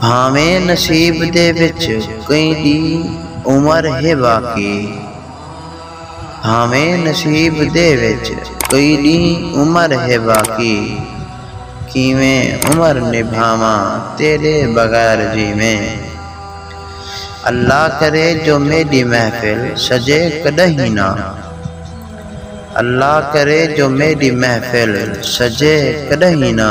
بھانویں نصیب دے وچ کئیں دی عمر ہے باقی بھانویں نصیب دے وچ کئیں دی عمر ہے باقی کیویں عمر نبھاواں تیڈے بغیر جیویں اللہ کرے جو میڈی محفل سجے کڈہیں نہ اللہ کرے جو میڈی محفل سجے کڈہیں نہ۔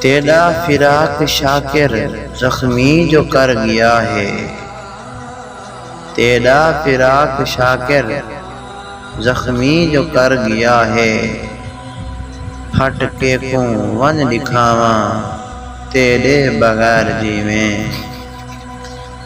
تیݙا فراق شاکر زخمی جو کر ڳیا ہے تیݙا فراق شاکر زخمی جو کر ڳیا ہے پھٹ کیکوں ونڄ ݙکھاواں تیݙے بغیر جیویں۔